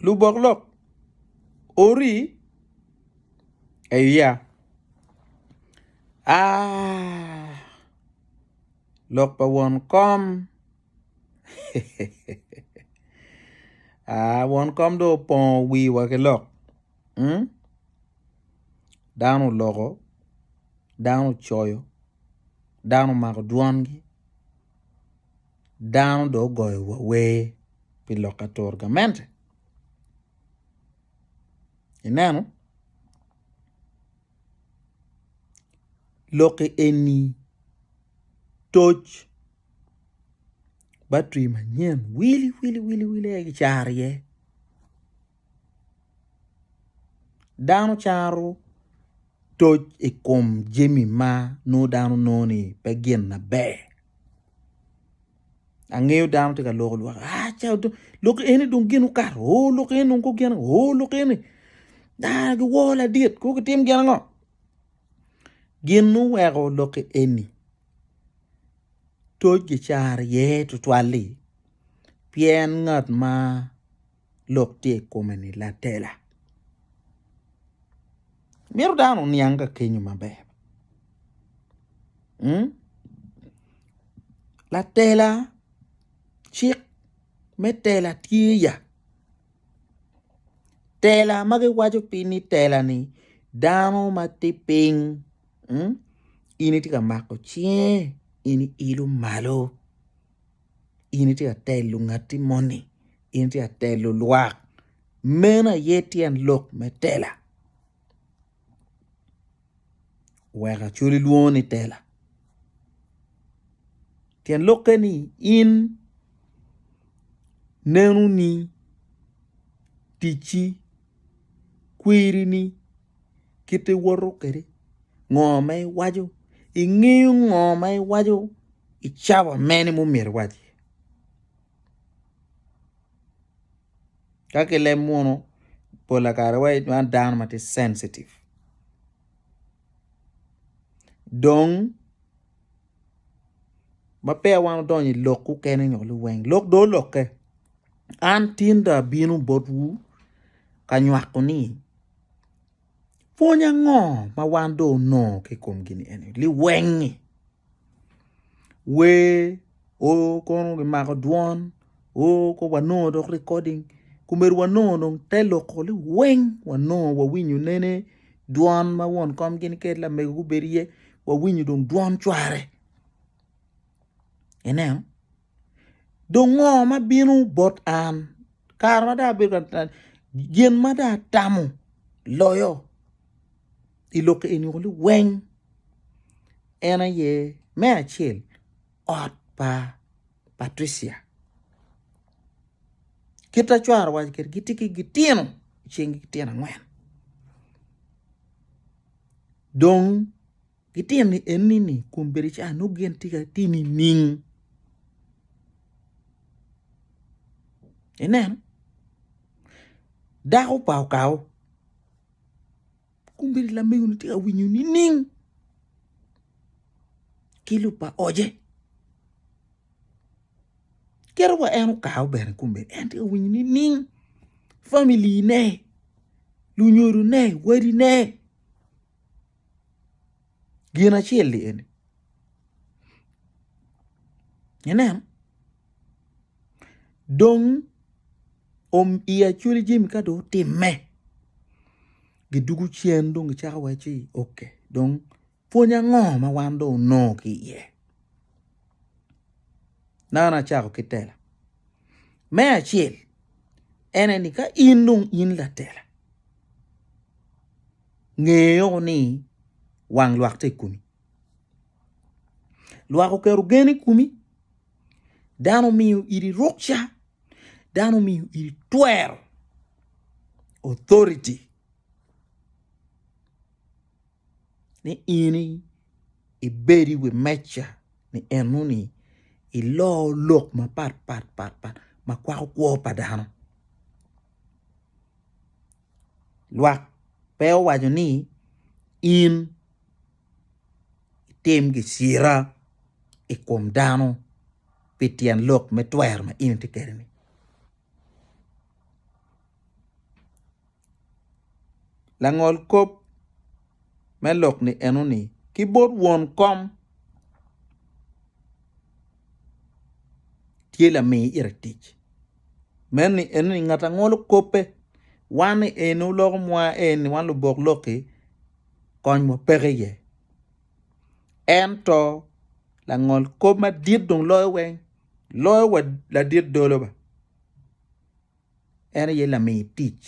lubok lok ori eya aah lok pa won kom aah won kom dong opongo wiwa ki lok dano oloko dano ocoyo dano omako dwongi. dano dong ogoyowa wer pi lok atura gamente ineno lok eni toc battery manyen wili wili wili aye gicano iye. Dano caro toc i kom jami ma nongo dano nongo ni pe gin maber angeyo dano tye ka loko lok lok eni dong gin okato oo lok eni dong gugine oo lok eni aa giwor ladit kong gitim gin ango gin ma oweko lok eni toc gicaro iye tutwal-li pien ngat ma lok tye i kome ni latela. Myero dano oniang ka kenyo maber. Hmm? Latela cik me tela tye ya. Tela ma giwaco piny ni tela ni dano ma tye piny hmm? in itye ka mako cinge in iilo malo. in itye ka telo ngatti moni in itye ka telo lwak meno aye tyen lok me tela wek acwali lwongo ni tela tyen lokke ni in nenoni ticci kwirini kite iwoto kwede ngo ma iwaco ingeyo ngo ma iwaco i cawa mene ma omyero iwac iye ka kilem munu pol pa kare iwaco ni man dano ma tye censitive dong ma peya wan odonyo i lok mukene nyo liweng lok dong olokke an tinda abino botwu ka nywako ni Pwony ango ma wan dong wunongo ki i kom gin eni? Liweng-ngi wer o kono kimako dwon o kono wanongo dok likoding omyero wanongo dong te loko liweng wanongo wawinyo nene dwon ma won kom gini kede lamego gubedo iye wawinyo dong dwon cware ineno. Dong ngo ma bino bot an? Kare ma dong abedo ka gin ma dong atamo loyo i lok eni weng en aye me acel ot pa Patricia kit ma cware owaco kwede gitye ki gitino cing gitino angwen dong. Gitino ni enni ni kun bedo ca nongo gin tye ka ti nining? Ineno? Dako pa okawo kun bedo lamegoni tye ka winyo nining? Ki lub pa oce kit wa en okawo bene kun bedo en tye ka winyo nining? Family ne, lunyodone, wadine. Gin acel-li eni inen dong i acwali jami ka dong otimme gidwogo cen dong gicako waco ni ok dong pwony ango ma wan dong wunongo ki iye nano acako ki tela me acel en aye ni ka in dong in latela. Nge woko ni wang lwak tye i komi. Lwak oketo gen i komi, dano omiyo iri rukca, dano omiyo iri twero, authority, ni in ibed i wi meja ni enoni iloo lok mapat pat pat pat ma kwako kwo pa dano. lwak pe owaco ni in itim gicira i kom dano pi tyen lok me twero ma in itye kwede-ni. Langol kop me lok-ki enoni ki bot won kom tye lami ite tic. Meno ni eno ni ngat a ngolo kobbe wan ni eno loko mwa eni wan lubok lok-ki konywa peke iye. Ento langol kob madit dong loyo weng loyo wa ladit dolo ba en aye lami tic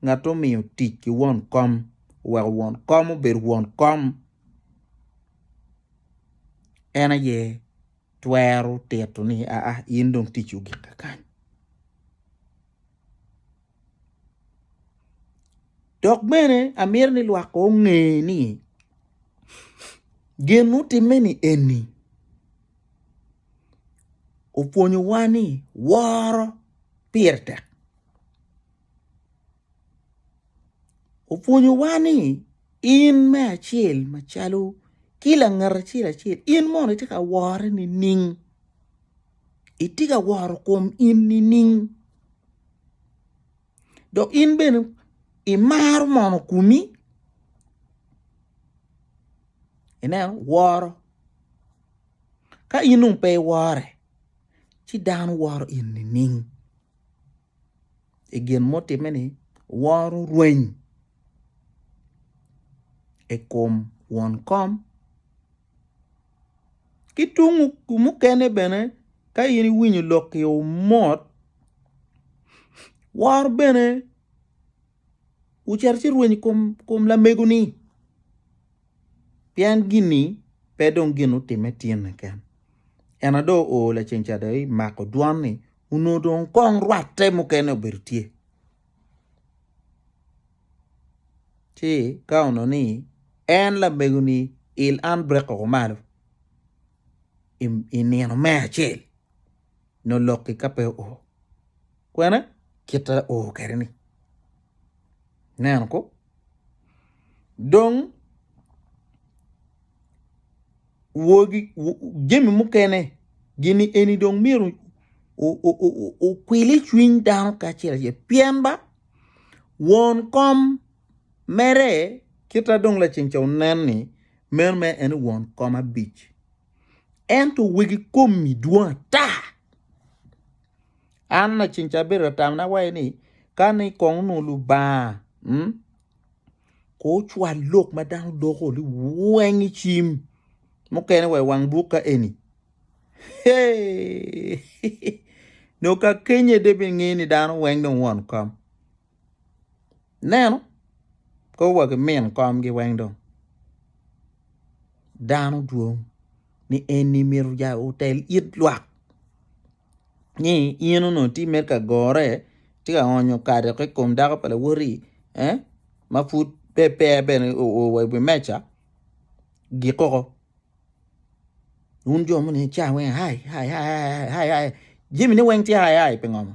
ngat omiyo tic ki won kom oweko won kom obedo won kom en aye twero tito ni, Aa, in dong ticci ogikke kany. Dok bene amyero ni lwak onge ni gin mutimme-ni eni opwonyowa ni woro pire tek. opwonyowa ni in me acel macalo ki langat acel acel in mono itye ka wore nining itye ka woro kom in nining dok in bene imaro mono komi ineno woro ka in dong pe iwore ci dano woro in nining. i gin mutimme ni woro rweny i kom won kom ki tung mukene bene ka in iwinyo lok ki omot wor bene Wucit ci rweny i kom, kom lamego-ni, pien gin-ni pe dong gin utimme tinne ken. Ena dong oo laceng ca dong imako dwan-ni, onongo dong kong rwatte mukene obedo tye. Ci ka onongo ni en lamego-ni il an brek oko malo i nino me acel. nyo lokki ka pe oo. Kwene kite oo kede ni. Neno ko. Dong wogi jemi mukene gini eni dong myero okwili cwiny dano kacel acel pien ba won kom mere kita dong laceng ca onen ni meno mere en won kom abic. ento wegi komi dwong ata. An lacen ca abedo ka tamona waci ni kani ikong onongo Lubanga mm ko ocwal lok ma dano doko ni weng i cim mukene wa i wang buk ka eni eeii nongo ka kenye de binge ni dano weng dong won kom. Ineno? Kor wa ki min komgi weng dong. Dano dwong ni eni myero ja otel it lwak ni in onongo itye mere ka gore itye ka onyo kado ki i kom dako pa lawoti eh ma pud pe pe bene o oo wa i wi meja gik koko wun jo moni ica weng aai aai aai aai jami ne weng tye aai aai pingo?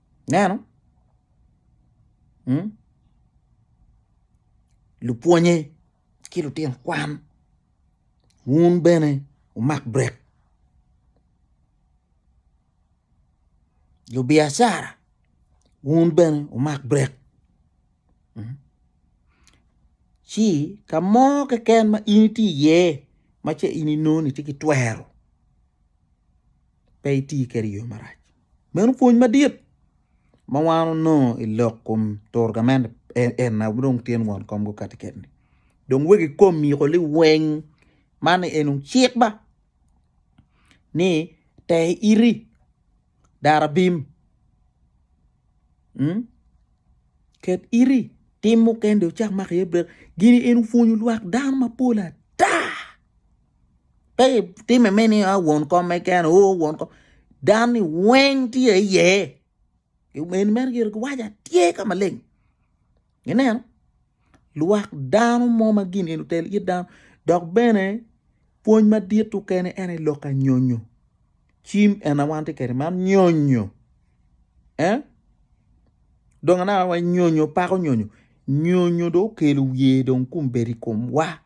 Ineno? Hmm? Lupwonye ki lutino kwan wun bene wumak brek. Lubiacara wun bene wumak brek. Hmm? Ci ka mo keken ma in itye iye ma ce in inongo ni tye ki twero pe iti kwede i yo marac. Meno pwony madit ma wan onongo i lok kom turo gamente en aye dong tye ni won komgi kati keni dong wegi kom miko liweng man ni eno cik ba ni te iti dara bim ket iti tim mukene dong icak mako iye brek gini eno opwonyo lwak dano mapol ata. pe itime me ni ah, won kom me kene o oh, won kom dani weng tye iye eni meno gire giwaco atye ka maleng ineno lwak dano mo ma gin eni otel it dano dok bene pwony madit okene en aye lok anyonyo cim ena wan tye kede man nyonyo eh dong anaka wa nyonyo pako nyonyo nyonyo dong okelo wiye dong kun bedo i kom wa.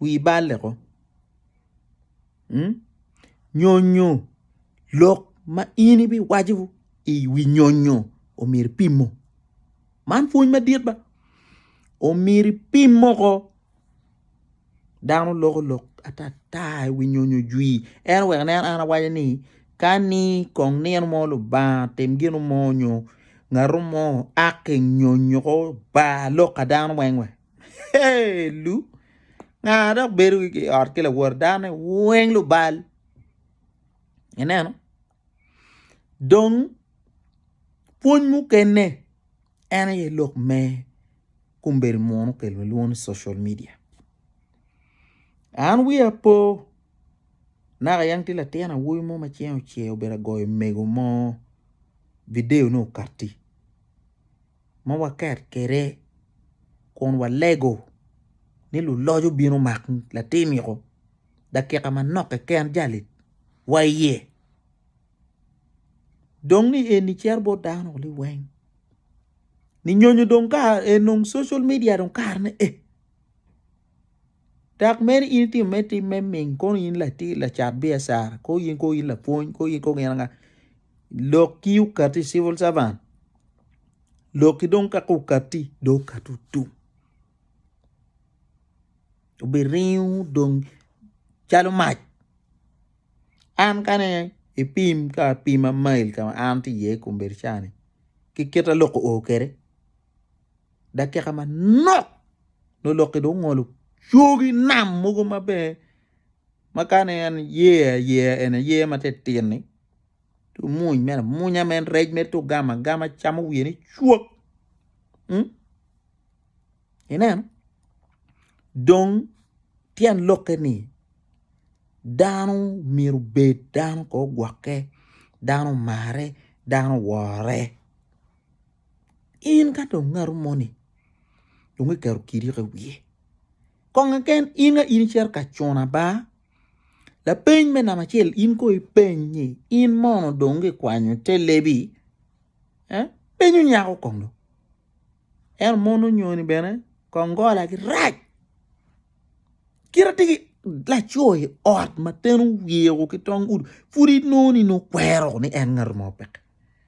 wii balle ko nyonyo lok ma in ibiwaco i wi nyonyo omyero ipimo man pwony madit ba omyero ipim moko dano loko lok atata i wi nyonyo jwi ento wek nen an awaco ni kani kong nino mo Lubanga otim gin mo nyo ngato mo a ki nyonyo ko ba lok pa dano weng we. Hey, lu nga dok bedo i ot ki lawor dane weng lubal ineno dong pwony mukene en aye lok me kombeddi munu kelo lwongo ni social media an wiya po naka yam tye latin awobi mo ma cinge ocer obedo agoyo mego mo video ne okatti ma waket kwede kun walego ni luloc obino mak latiniko dakika manok keken jali wa iye dong ni eni cito bot dano ni weng ni nyonyo dong ka social media dong kare ne ee. Dok meno in itimo mere tim me ming kono in latir lacat biacara kono in kono in lapwony kono in kono gin anga lok ki okati civil servant lok ki dong kaka okati dong okati otum obiringo dong calo mac an kane ipim ka apima mail ka ma an tye iye i kombeddi ca ni ki kite lok oo kwede. dakika manok nongo lok-ki dong ongolo cogi nam mogo ma bene ma kane en yeya yeya en aye ma titino-ni ci omuny mere amunya ma en rec mere tye ogamo agama camo wiye ni cwok ineno dong tyen lokke ni dano myero obed dano ko ogwokke dano omare dano owore in ka dong ngatu moni dong iketo kiriko i wiye kong keken in ka in icito ka cuno aba lapeny me namba acel in kono ipeny ni in mono dong kikwanyo te lebi penyo nyako kong dong ento mon onyoni bene kong golagi rac kit ma tye ki laco i ot ma ten oyeyo ki tong udi pud inongo ni nongo kwero ni en ngatu mo peke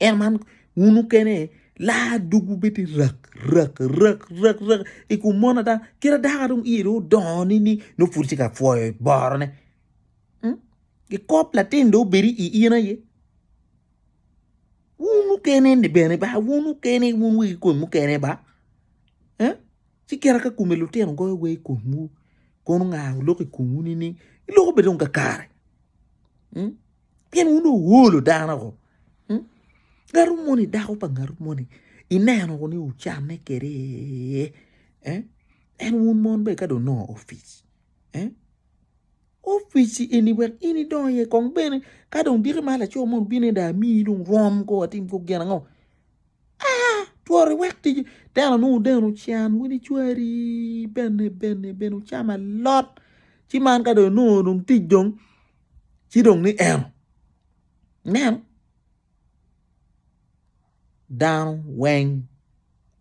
En man wun okene laa dogwu bedi rak rak rak rak rak i kom mon ada kit adaka dong iye dong odongo ni ni nongo pud tye ka pwoyo borone mm? kikop latin dong obedi i in aye wun okene ni bene ba wun okene wun wegi kom mukene ba eh? ci kira ka kome lutino goyo wa i komwu kono nga oloko i komwu ni ni iloko bene dong kakare mm? Pien wun wuwolo dano woko. Hmm? Ngatu moni, dako pa ngatu moni, ineno woko ni wucanne kede eh? en wun mon be ka donongo ofic eh? ofic eni wek in idongo iye kong bene ka dong diki ma laco mo bino da amiyi dong rom ko watim ko gin ango ah tworo iwek tic teno nongo deno can wun icwari bene bene bene wucamo alot ci man ka dong nongo dong tic dong ci dong ni en nen dano weng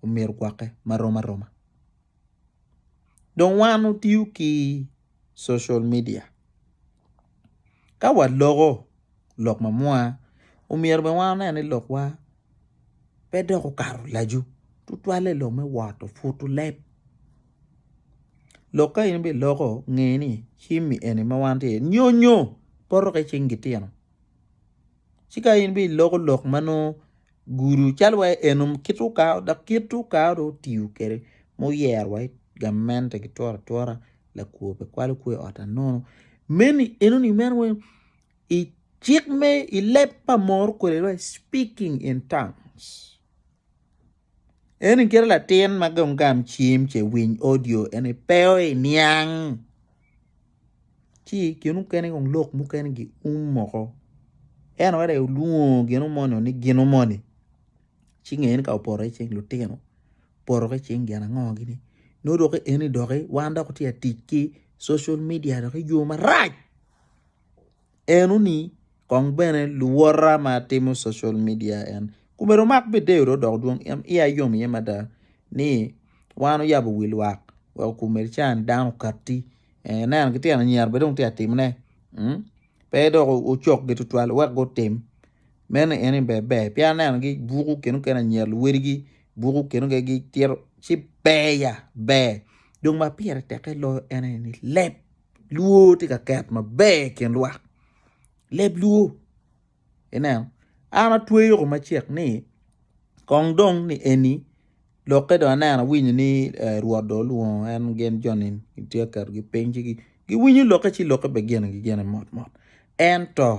omyero ogwokke marom aroma dong wan watiyo ki social media ka waloko lok mamwonya omyero bene wan wane ni lokwa pe dok okato laco tutwalle lok me woto puto leb. lok ka in biloko nge ni cimmi eni ma wan tye iye nyonyo poto ki cing gitino ci ka in biloko lok ma nongo gudo calo wa eno kit okato dok kit okato dong otiyo kwede ma oyero wa gamente ki twero atwera lakwo pe kwalo kwe i ot anono meni enoni meno wai i cik me i leb pa moro kwede wai speaking in tongues. Eni kite latin ma gam gam cim ce winy audio eni pe o i niang. Ci gin mukene kong lok mukene gi um moko. En wera i ulungo gin umoni ni gin umoni. Ci ngeni ka oporo i cing lutino. Poro ki cing gin ango gini. No dok eni dok wan dok tye tic ki social media dok i yo marac. Eno ni kong bene luwota ma timo social media en kome dong mak bideyo do dok dwong en iya yom iye mada ni wan oyabo wi lwak wek okumed can dano katti eh, neno ki tyeno anyira bene dong tye timne mm? pe dok ocokgi tutwal wek gutim meno eni ber ber pien aneno gi buku keno kene anyira luwedigi buku keno kene gitito ci ber ya ber dong ma pire teke loyo en aye ni leb Luo tye ka ket maber i kin lwak leb luo ineno an atweyo ko macek ni kong dong ni eni lokke dong aneno awinyo ni rwot dong olwongo en gin joni gitye ka ketogi piny ci giwinyo lokke ci lokke bene ginigi gene mot mot ento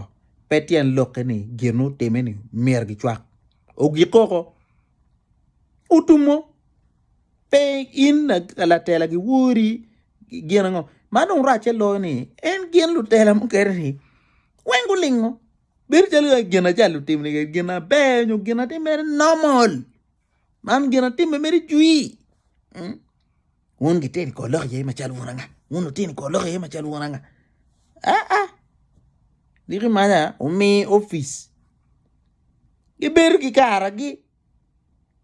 pe tyen lokke ni gin ma otimme-ni myero gicwak ogik koko otummo. Pe in latela gi wori gin ango? Ma dong racce loyo ni en gin lutela mukene ni weng gulingo bedo calo gin acal lutimo ni gin aber nyo gin atim mere normal. Man gin atim mere jwi. Hmm? Wun gitino i kor lok iye macalo wun anga? Wun wutino i kor lok iye macalo wun anga? Ah ah. Diki manya omi opic gibedo ki karagi.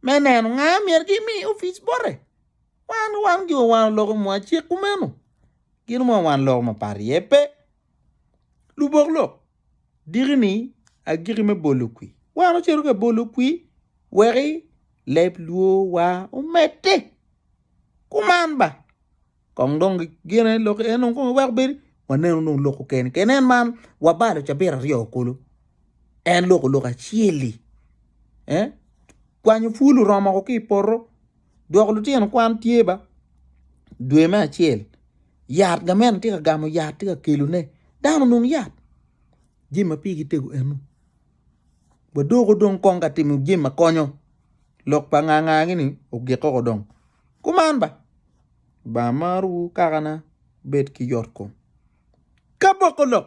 me neno nga myero gimi opic bote wan wan jo wan oloko mwa cik kumeno gin mwa wan loko mapat iye pe lubok lok diki ni agiki me bolo kwi wan ocito ka bolo kwi weki leb lwor wa omedde kuman ba Kong dong gine lok en dong kong eweko bedi waneno dong lok keken keken en man wabalo cabit aryo kulu en loko lok acel-li eh kwanyo pul oromo woko ki i poto dwoko lutino kwan tye ba dwe me acel yat gamente tye ka gamo yat tye ka kelone dano onong yat jami ma pigi tego enu. Wadoko dong kong ka timo jami ma konyo, lok pa ngaa ngaa gini ogik koko dong kuman ba, Lubanga marowu kakana, wubed ki yotkom ki aboko lok.